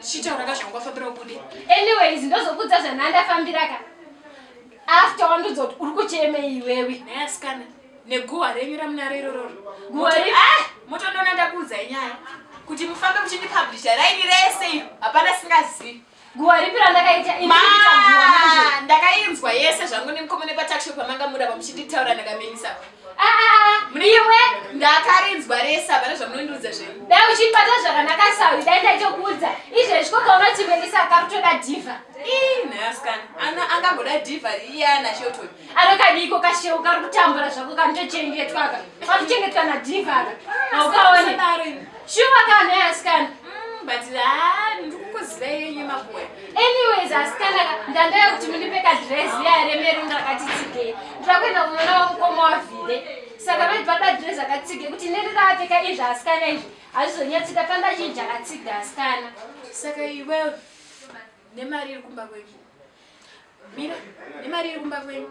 Chitaura ka zvangu wafambira ubude. Anyways ndozokudza zvananda fambira ka. After wandudza kuti uri kucheme iwewe. Naye asikana neguwa renyu ramunaro iroro. Guwa re ah motondona ndakuudza inyaya. Kuti mufambe muchindi publisher raini rese iyo hapana singazivi. Guwa ripi randakaita ini ndakaita guwa manje. Ndakainzwa yese zvangu nemukomene patakisho pamanga muda pamuchinditaura ndakamenyisa. Muriwe ndakarinzwa resa hapana zvamunondiudza zvenyu. Dai uchibata zvakanaka sawi dai ndaichokuudza. Izvezvi ko kaunoti Melisa akakutoda diva. Ii nhaskana ana angagoda diva riya na Shelton. Anokadiko kashewu kari kutambura zvako kanotochengetwa ka. Kanochengetwa na diva ka. Haukaone. Shuwa ka nhai asikana. Mm, but ah, ndikukuziva yenyu makuwe. Anyways asikana ndandaya kuti mundipe ka dress ya remero ndakati tsike. Ndakuenda kumona wa mukoma wa vile. Saka mai baba dress akatsike kuti nerira apfeka izvi asikana izvi. Azvizonyatsika panda chinja akatsika asikana. Saka iwe nemari iri kumba kwenyu. Mira, nemari iri kumba kwenyu.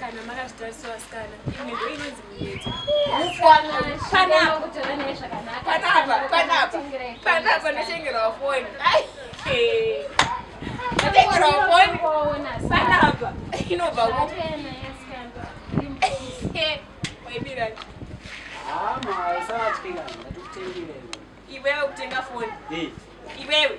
kana makazvitarisa vasikana imwe ndo inonzi muyedzo panapa ndotengerawo foni ndotengerawo foni panapa inobva waibirani iwewe kutenga foni iwewe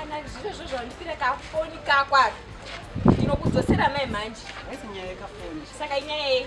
kana zviro zvo zvandipira kafoni kakwaka ndinokudzosera mai manje saka inyaya yei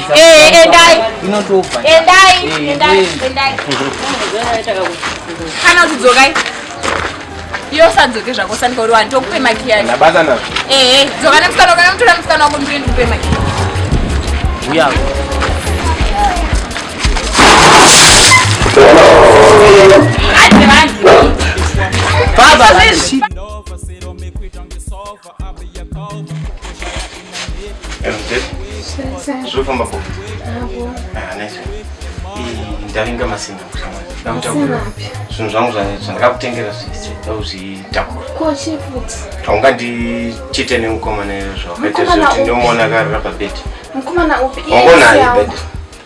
Eh, endai inotobva endai eh, endai eh. endai kana kudzokai iyo sadzoke zvako sandika uri wani tokupe maki yayo ndabata nazvo ehe dzoka nemusikana kana mutora musikana wako ndiri ndikupe maki uya Baba, zvofamba po ndavinga masimba kutanga zvinhu zvangu zvanetsa ndakakutengera zvakuzvitakura haungandichite nemukomana izvo zvawakaita zvekuti ndomuona karira pabedi wangonayo bedi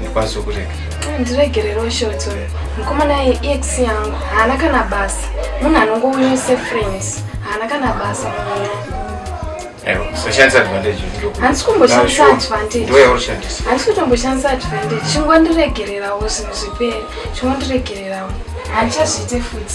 ndikwanisa ah, kurega ah, ndiregererewo shoti uyo mukomana ex yangu haana kana basa munhu anongouya sefriends haana kana basa handisi kumboshandisa advantage handisi kutomboshandisa advantage chingondiregererawo zvinhu zvipere chingondiregererawo handichazviite futi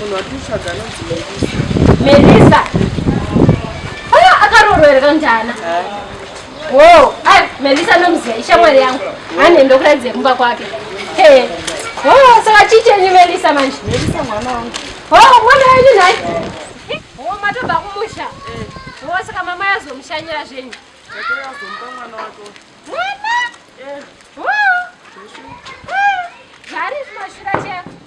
munhu watiutsvaga anonzi melisa aya akaroorwa here kanjana wo ai melisa nomuziva ishamwari yangu ane ndokuratidze kumba kwake e wo saka chiichenyi melisa manje melisa mwana wangu wo mwana wenyu nhai wo matobva kumusha wo saka mama yazomushanyira zvenyu mwana wo zvari zvimashura cheko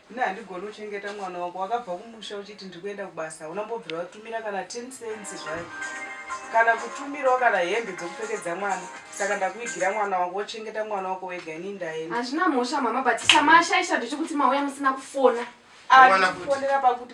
Ini handigoni kuchengeta mwana wako wakabva kumusha uchiti ndiri kuenda kubasa hauna mbobvira watumira kana 10 cents zvayo kana kutumirawo kana hembe dzekupfekedza mwana saka ndakuigira mwana wako wochengeta mwana wako wega ini ndaenda Hazvina mhosva mama but chamashaisha ndechekuti mauya musina kufona. Mwana kuti- Akufonera pakuti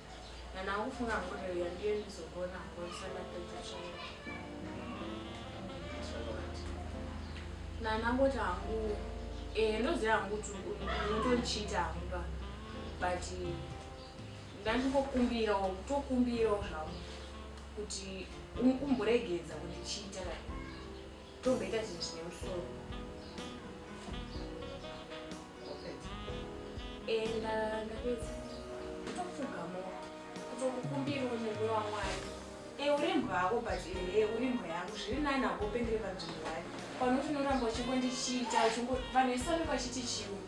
Kana akufunga mhuri iya ndiyo inozogona kugonesa mapedza chaiwo. Nana angoti hangu eh ndoziva hangu kuti unotondichiita hangu pa but ndandingokumbirawo kutokumbirawo zvangu kuti umboregedza kundichiita like Tomboita chinhu chine musoro. Enda ndapedza. Kutopfugamo. Kutokukumbira umugwe wamwari. E eh, uri mbwa hako but ehe eh, uri mbwa yangu zviri nani hako upendere panzvimbo yayo. Panoti unoramba uchingondichiita uchingo vanhu vese vanenge vachiti chiungu.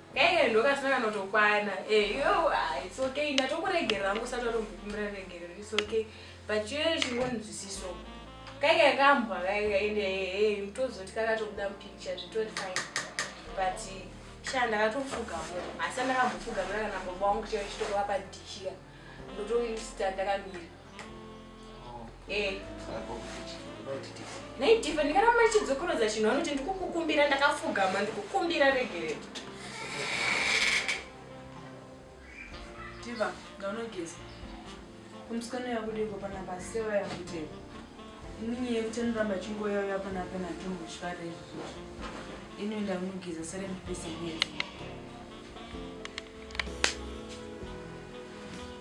Kaive ndokasina kanotokwana. Eh, yo, ah, it's okay. Ndatokuregerera hangu usati watombopimira regerero. It's okay. But chive chingonzwisiso. Kaive kambwa kaive ende eh, eh, mtozoti kakatobuda mupicture zvitori fine. But sha ndakatofuga mo. Asi ndakambofuga mira kana baba wangu chive chitokwa padichira. Ndotoista ndakamira. Eh. Nei Diva ndikaramba ndichidzokorodza chinhu anoti ndikukukumbira ndakafugama ndikukumbira regerera. Diva ndaunogeza. Kumskana yakudeko pana basewa yakuteka. Inini yekuti anoramba chingoya uya pana pana tumbu zvare izvi. Inoenda kunogeza sare ndipese mwedzi.